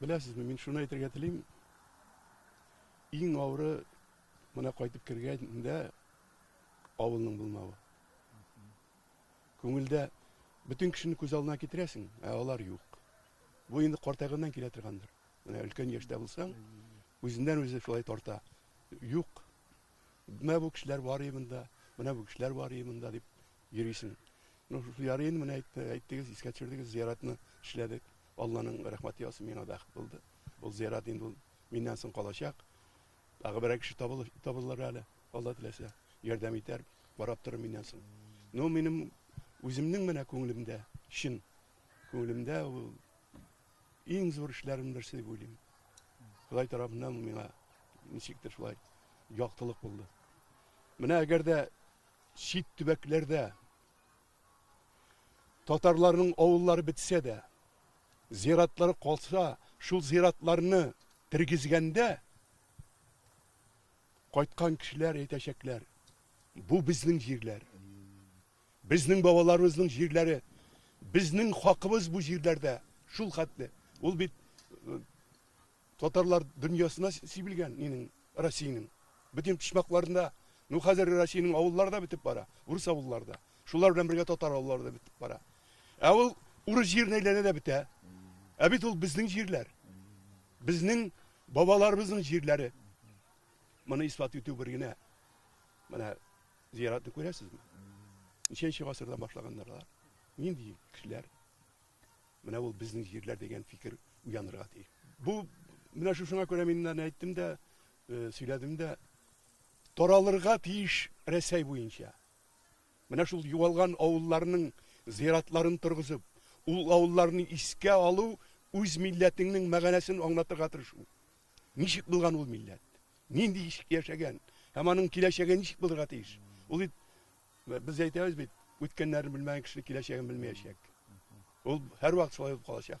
Беләсезме, мин шуны әйтергә телим, иң авыры менә кайтып кергәндә авылның булмавы. Күңелдә бөтен кешене күз алдына китерәсең, ә алар юк. Бу инде картайганнан килә торгандыр. Менә өлкән яшьтә булсаң, үзеннән үзе шулай тарта. Юк, Менә бу кешеләр бар и монда, менә бу кешеләр бар и монда дип йөрисең. Ну, ярый инде менә әйтте, әйттегез, искә төшердегез, зияратны эшләдек. Алланың рәхмәте яусын, миңа бәхет булды. Ул зиярат инде ул миннән соң калачак. Тагы берәр кеше табылыр, табылыр әле, Алла теләсә, ярдәм итәр, барап торыр миннән соң. Ну, минем үземнең менә күңелемдә, чын күңелемдә ул Иң зур эшләрем берсе дип уйлыйм. Ходай тарафыннан миңа ничектер шулай яктылык булды. Менә әгәр дә чит төбәкләрдә татарларның авыллары бетсә дә, зиратлары калса, шул зиратларны тергезгәндә кайткан кешеләр әйтәчәкләр, бу безнең җирләр. Безнең бабаларыбызның җирләре, безнең хакыбыз бу җирләрдә, шул хәтле. Ул бит татарлар дөньясына сибелгән нинең, Россиянең. Бөтен почмакларында, ну хәзер Россиянең авыллары да бетеп бара, урыс авыллары да. Шулар белән бергә татар авыллары да бетеп бара. Ә ул урыс җиренә әйләнә дә бетә. Ә бит ул безнең җирләр. Безнең бабаларыбызның җирләре. Моны исбат итү бер генә. Менә Зыяратны күрәсезме? Ничәнче гасырдан башлаганнар алар? Нинди кешеләр? Менә ул безнең җирләр дигән фикер уянырга тиеш. Бу менә шушыңа күрә мин аны әйттем дә, э, сөйләдем дә, таралырга тиеш Рәсәй буенча. Менә шул югалган авылларның зыяратларын торгызып, ул авылларны искә алу үз милләтеңнең мәгънәсен аңлатырга тырышу. Ничек булган ул милләт? Нинди ишек яшәгән? Һәм аның киләчәге ничек булырга тиеш? Ул бит без әйтәбез бит, үткәннәрен белмәгән кеше киләчәген белмәячәк. Ул һәрвакыт шулай булып калачак.